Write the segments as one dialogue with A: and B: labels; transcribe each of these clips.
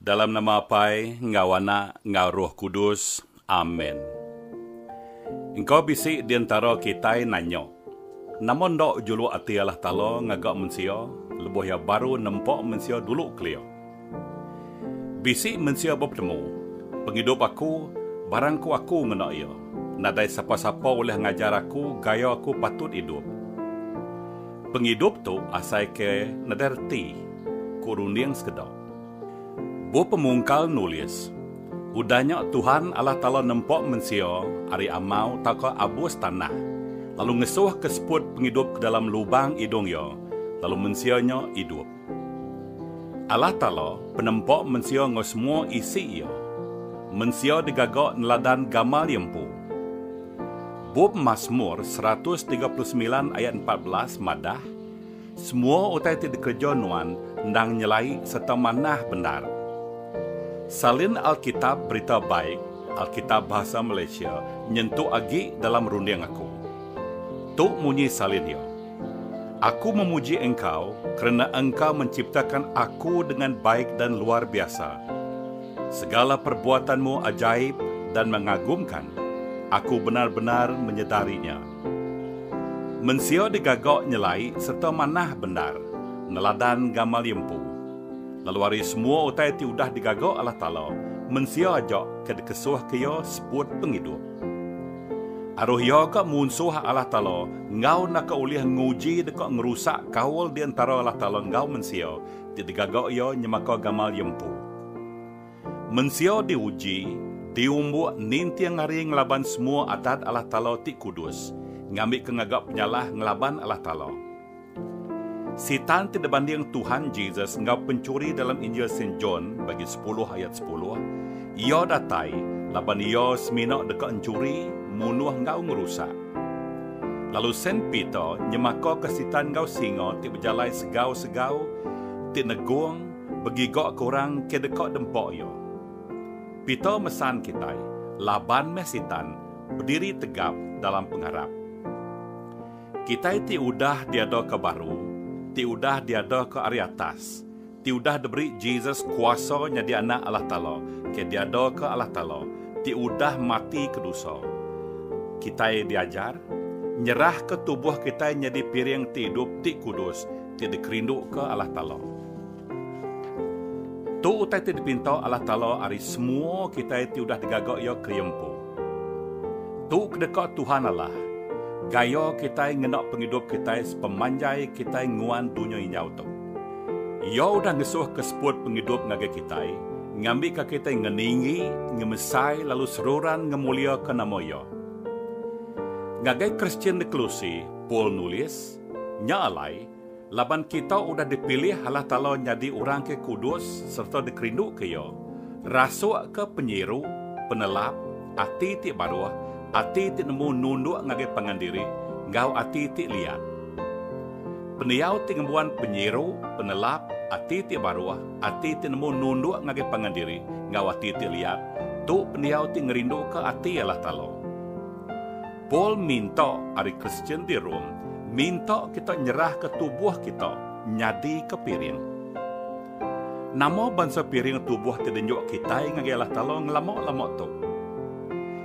A: Dalam nama Apai enggau Anak enggau Roh Kudus. Amen. Engka bisi di entara kitai nanya, Nama enda juluk ati Allah Taala ngaga mensia lebuh Iya baru nempa mensia dulu kelia? Bisi mensia bepetemu, Pengidup aku, barang ku aku ngena iya. Nadai sapa-sapa ulih ngajar aku gaya aku patut idup. Pengidup tu asai ke nadai reti, ku runding sekeda. Bup Pemungkal nulis, Udah nya Tuhan Allah Taala nempa mensia ari amau tauka abus tanah, lalu ngesuhka seput pengidup ke dalam lubang idung iya, lalu mensia nya idup. Allah Taala penempa mensia enggau semua isi iya. Mensia digaga neladan gamal iya empu. Bup Masmur seratus tiga puluh semilan ayat empat belas madah, Semua utai ti dikereja Nuan endang nyelai sereta manah bendar. Salin Alkitab Berita Baik, Alkitab Bahasa Malaysia, nyentuk agi dalam runding aku. Tu munyi salin iya. Aku memuji Engkau kerna Engkau menciptakan aku dengan baik dan luar biasa. Segala perbuatan-Mu ajaib dan mengagumkan, aku bendar-bendar menyedari nya. Mensia digaga nyelai sereta manah bendar neladan gamal iya empu. Lalu ari semua utai ti udah digaga Allah Taala, mensia aja ke dikesuhka Iya seput pengidup. Aruh iya ka munsuh Allah Taala enggau enda ka ulih nguji deka ngerusak kaul di entara Allah Taala enggau mensia ti digaga Iya nyemaka gamal Iya empu. Mensia diuji, diumbuk ninting hari ngelaban semua adat Allah Taala ti kudus, ngambika ngaga penyalah ngelaban Allah Taala. Sitan ti dibanding Tuhan Jesus enggau penchuri dalam Injil Saint John bagi sepuluh ayat sepuluh, iya datai laban iya semina deka enchuri, munuh enggau ngerusak. Lalu Saint Peter nyemakaka Sitan enggau singa ti bejalai segau-segau ti negung begigaka orang ke deka dempa iya. Peter mesan kitai laban meh Sitan bediri tegap dalam pengarap. Kitai ti udah diadaka baru, ti udah diadaka ari atas, ti udah diberi Jesus kuasa nyadi anak Allah Taala, ke diadaka Allah Taala, ti udah mati ke dosa. Kitai diajar, nyerahka tubuh kitai nyadi piring ti idup ti kudus, ti dikerinduka Allah Taala. Tu utai ti dipinta Allah Taala ari semua kitai ti udah digaga Iya keria empu. Tu ke deka Tuhan Allah gaya kitai ngena pengidup kitai sepemanjai kitai nguan dunya inyau tu. Iya udah ngesuhka seput pengidup ngagai kitai, ngambika kitai ngeninggi, ngemesai lalu seruran ngemuliaka nama Iya. Ngagai Kristian di Kolose, Paul nulis, Nya alai, Laban kita udah dipilih Allah Taala nyadi orang ke kudus sereta dikerinduka Iya, rasukka penyiru, penelap, ati ti baruh, ati ti nemu nunduk ngagai pangan diri, enggau ati ti liat. Pendiau ti ngembuan penyiru, penelap, ati ti baruh, ati ti nemu nunduk ngagai pangan diri, enggau ati ti liat, tu pendiau ti ngerinduka ati Allah Taala. Paul minta ari Kristian di Rome minta kita nyerahka tubuh kita nyadika piring. Nama bansa piring tubuh ti dinjuk kitai ngagai Allah Taala ngelama-lama tu?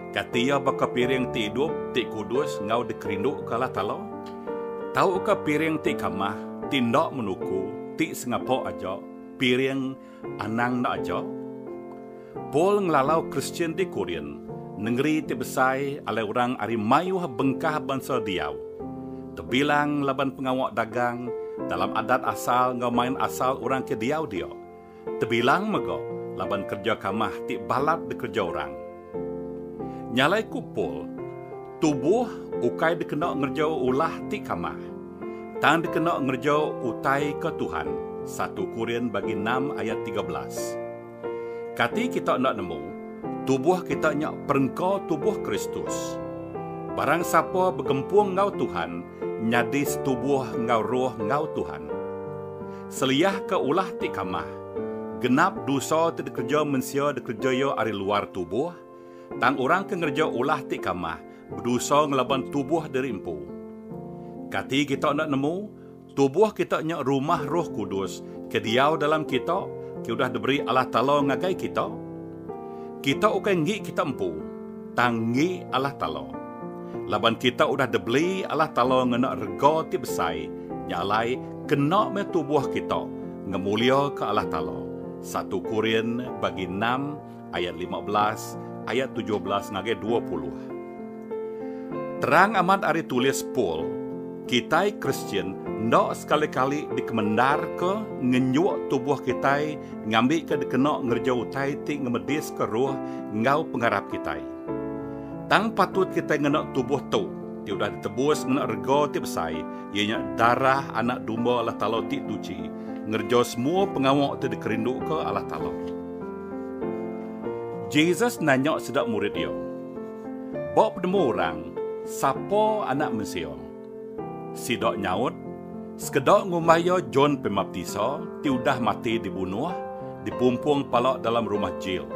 A: Kati iya baka piring ti idup, ti kudus enggau dikerinduka Allah Taala? Tauka piring ti kamah, ti enda menuku, ti sengapa aja, piring Anang enda aja. Paul ngelalau Kristian di Korint, nengeri ti besai alai orang ari mayuh bengkah bansa diau. Tebilang laban pengawa dagang, dalam adat asal enggau main asal orang ke diau dia. Tebilang mega laban kereja kamah ti balat dikereja orang. Nyalai ku Paul, tubuh ukai dikena ngerejau ulah ti kamah, tang dikena ngerejau utai ke Tuhan, satu Korin bagi enam ayat tiga belas. Kati kita enda nemu, tubuh kita nya perengka tubuh Kristus. Barang sapa begempung enggau Tuhan nyadi setubuh enggau Roh enggau Tuhan. Seliahka ulah ti kamah, Genap dusa ti dikereja mensia dikereja iya ari luar tubuh, tang orang ke ngereja ulah ti kamah bedusa ngelaban tubuh diri empu. Kati kita enda nemu, tubuh kita nya rumah Roh Kudus ke diau dalam kita ke udah diberi Allah Taala ngagai kita? Kita ukai enggi kita empu, tang enggi alah talo. Laban kita udah dibeli alah talo ngena rega ti besai, nya alai kena meh tubuh kita ngemuliaka alah talo, satu Korin bagi enam ayat lima belas ayat tujuh belas ngagai dua puluh. Terang amat ari tulis Paul, kitai Kristian enda sekali-kali dikemendarka ngenjuk tubuh kitai ngambika dikena ngereja utai ti ngemediska roh enggau pengarap kitai. Tang patut kitai ngena tubuh tu, ti udah ditebus ngena rega ti besai, iya nya darah Anak Domba Allah Taala ti tuchi, ngereja semua pengawa ti dikerinduka Allah Taala. Jesus nanya sida murid iya. Ba penemu orang, sapa Anak Mensia? Sida nyaut, Sekeda ngumbai iya John Pembaptisa ti udah mati dibunuh, dipumpung pala dalam rumah jil.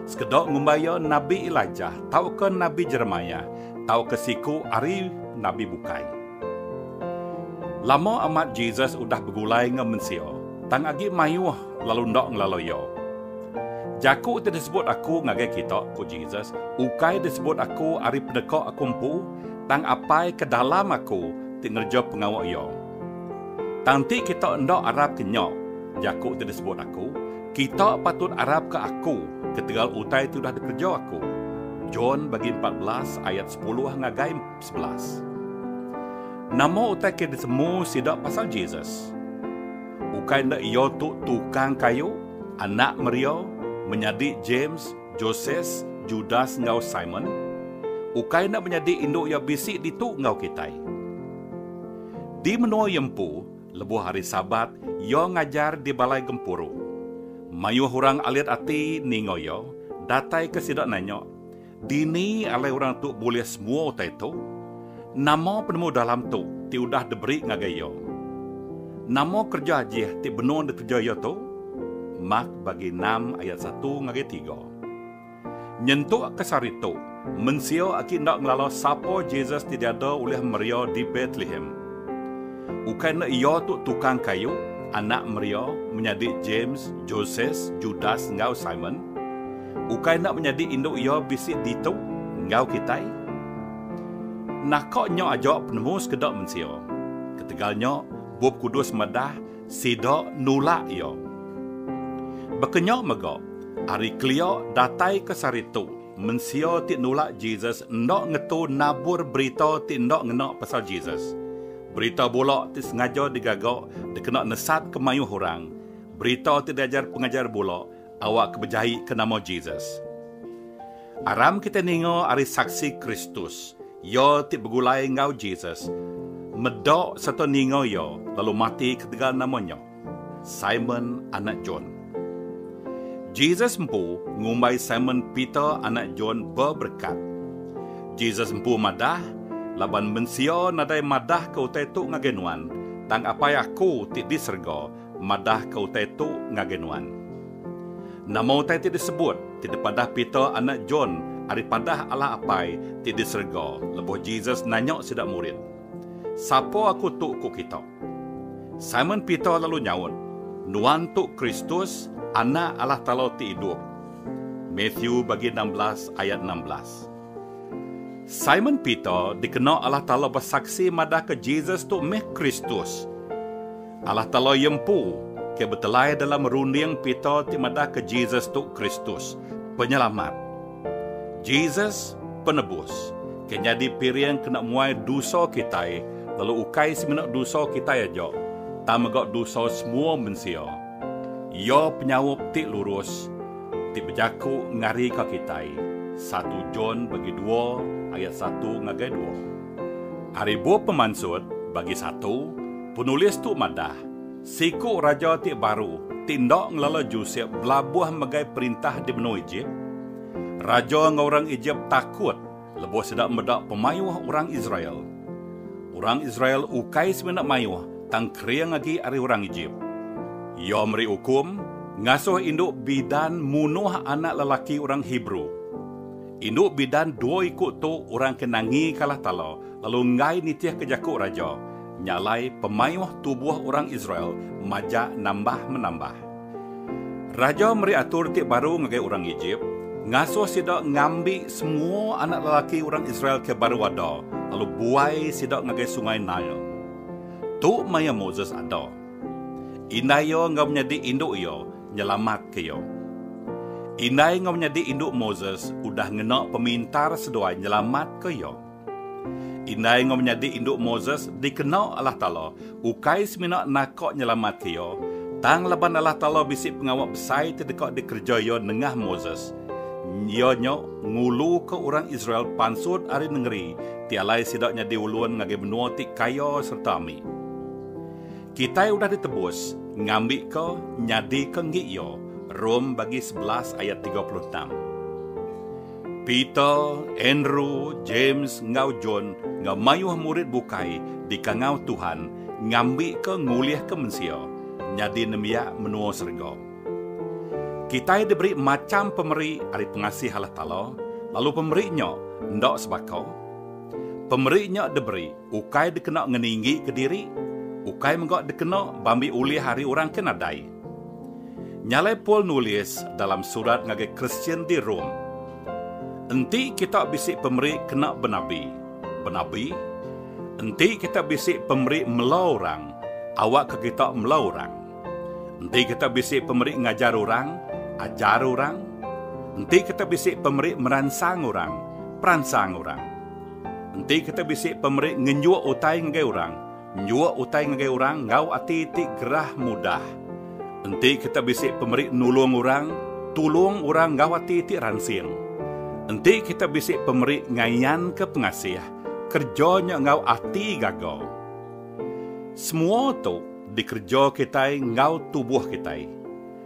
A: Sekeda ngumbai iya nabi Elijah tauka nabi Jeremiah tauka siku ari nabi bukai. Lama amat Jesus udah begulai enggau mensia, tang agi mayuh lalu enda ngelalui Iya. Jaku ti disebut aku ngagai kita, ku Jesus, ukai disebut aku ari peneka aku empu, tang Apai ke dalam aku ti ngereja pengawa Iya. Tang enti kita enda arapka nya, jaku ti disebut aku, kita patut arapka aku ketegal utai ti udah dikereja aku. John bagi empat belas ayat sepuluh ngagai sebelas. Nama utai ke disemu sida pasal Jesus? Ukai enda iya tu tukang kayu, anak Maria, menyadi James, Joses, Judas enggau Simon? Ukai enda menyadi indu iya bisi ditu enggau kitai? Di menua iya empu, lebuh hari Sabat, iya ngajar di balai gempuru. Mayuh orang alit ati ninga iya, dataika sida nanya, Dini alai orang tu bulih semua utai tu? Nama penemu dalam tu ti udah diberi ngagai iya? Nama kereja jih ti benung dikereja iya tu? Mak bagi enam ayat satu ngagai tiga. Nyentukka sehari tu, mensia agi enda ngelala sapa Jesus ti diada ulih Maria di Betlehem. Ukai enda iya tu tukang kayu, anak Maria, menyadi James, Joses, Judas enggau Simon? Ukai enda menyadi indu iya bisi ditu enggau kitai? Naka nya aja penemu sekeda mensia. Ketegal nya, Bup Kudus madah sida nulak iya. Baka nya mega, ari kelia dataika sehari tu, mensia ti nulak Jesus enda ngetu nabur berita ti enda ngena pasal Jesus. Berita bula ti sengaja digaga dikena nesatka mayuh orang, berita ti diajar pengajar bula, awakka bejaika nama Jesus. Aram kitai ninga ari saksi Kristus, iya ti begulai enggau Jesus, meda sereta ninga iya lalu mati ketegal nama nya, Simon anak John. Jesus empu ngumbai Simon Peter anak John beberekat. Jesus empu madah, Laban mensia nadai madahka utai tu ngagai nuan, tang Apai aku ti di serega madahka utai tu ngagai nuan. Nama utai ti disebut ti dipadah Peter anak John ari padah Allah Apai ti di serega lebuh Jesus nanya sida murid, Sapa aku tu ku kita? Simon Peter lalu nyaut, Nuan tu Kristus, Anak Allah Taala ti idup. Matthew bagi enam belas ayat enam belas. Simon Peter dikena Allah Taala besaksi madahka Jesus tu meh Kristus. Allah Taala iya empu ke betelai dalam runding Peter ti madahka Jesus tu Kristus, Penyelamat. Jesus, Penebus, ke nyadi piring kena muai dusa kitai lalu ukai semina dusa kitai aja, tang mega dusa semua mensia. Iya penyaup ti lurus ti bejaku ngarika kitai, satu John bagi dua ayat satu ngagai dua. Ari bup pemansut bagi satu, Penulis tu madah, siku raja ti baru ti enda ngelala Josep belabuh megai perintah di menua Ejip. Raja enggau orang Ejip takut lebuh sida meda pemayuh orang Israel. Orang Israel ukai semina mayuh tang kering agi ari orang Ejip. Iya meri ukum ngasuh indu bidan munuh anak lelaki orang Hebrew. Indu bidan dua iku tu orang ke nangikalah tala lalu enggai nitihka jaku raja. Nya alai pemayuh tubuh orang Israel majak nambah-menambah. Raja meri atur ti baru ngagai orang Ejip, ngasuh sida ngambi semua anak lelaki orang Israel ke baru ada lalu buai sida ngagai Sungai Nile. Tu maya Moses ada. Indai iya enggau menyadi indu iya nyelamatka iya. Indai enggau menyadi indu Moses udah ngena pemintar seduai nyelamatka iya. Indai enggau menyadi indu Moses dikena Allah Taala ukai semina naka nyelamatka iya, tang laban Allah Taala bisi pengawa besai ti deka dikereja Iya nengah Moses, iya nya nguluka orang Israel pansut ari nengeri ti alai sida nyadi ulun ngagai menua ti kaya sereta ambi. Kitai udah ditebus ngambika nyadika enggi iya, Rom bagi sebelas ayat tiga puluh enam. Peter, Andrew, James, enggau John enggau mayuh murid bukai dikangau Tuhan ngambika ngulihka mensia nyadi nembiak menua serega. Kitai diberi macham pemeri ari pengasih Allah Taala, lalu pemeri nya enda sebaka. Pemeri nya diberi ukai dikena ngeninggika diri, ukai mega dikena bambi ulih ari orang ke nadai. Nyalai Paul nulis dalam surat ngagai Kristian di Rome, Enti kita bisi pemeri kena benabi, benabi, enti kita bisi pemeri mela orang, awakka kita mela orang. Enti kita bisi pemeri ngajar orang, ajar orang. Enti kita bisi pemeri meransang orang, peransang orang. Enti kita bisi pemeri ngenjuk utai ngagai orang, Njuk utai ngagai orang enggau ati ti gerah mudah. Enti kita bisi pemeri nulung orang, tulung orang enggau ati ti ransing. Enti kita bisi pemeri ngayanka pengasih, kereja nya enggau ati gaga. Semua tu dikereja kitai enggau tubuh kitai.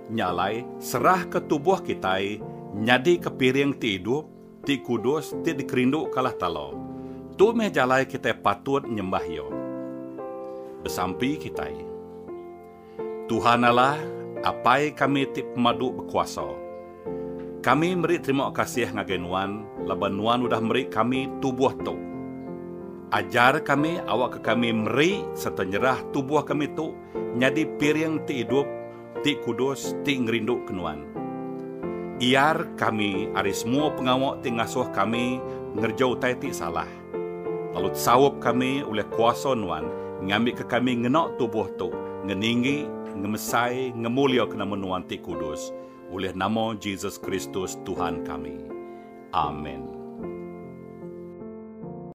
A: Nya alai, serahka tubuh kitai nyadika piring ti idup, ti kudus ti dikerindukalah Talu. Tu meh jalai kitai patut nyembah Iya. Besampi kitai. Tuhan Allah, Apai kami ti pemadu bekuasa. Kami meri terima kasih ngagai Nuan laban Nuan udah meri kami tubuh tu. Ajar kami awakka kami meri sereta nyerah tubuh kami tu nyadi piring ti idup, ti kudus ti ngerinduka Nuan. Iar kami ari semua pengawa ti ngasuh kami ngereja utai ti salah, lalu tesaup kami ulih kuasa Nuan ngambika kami ngena tubuh tu ngeninggi, ngemesai, ngemuliaka nama Nuan ti kudus, ulih nama Jesus Kristus Tuhan kami. Amen.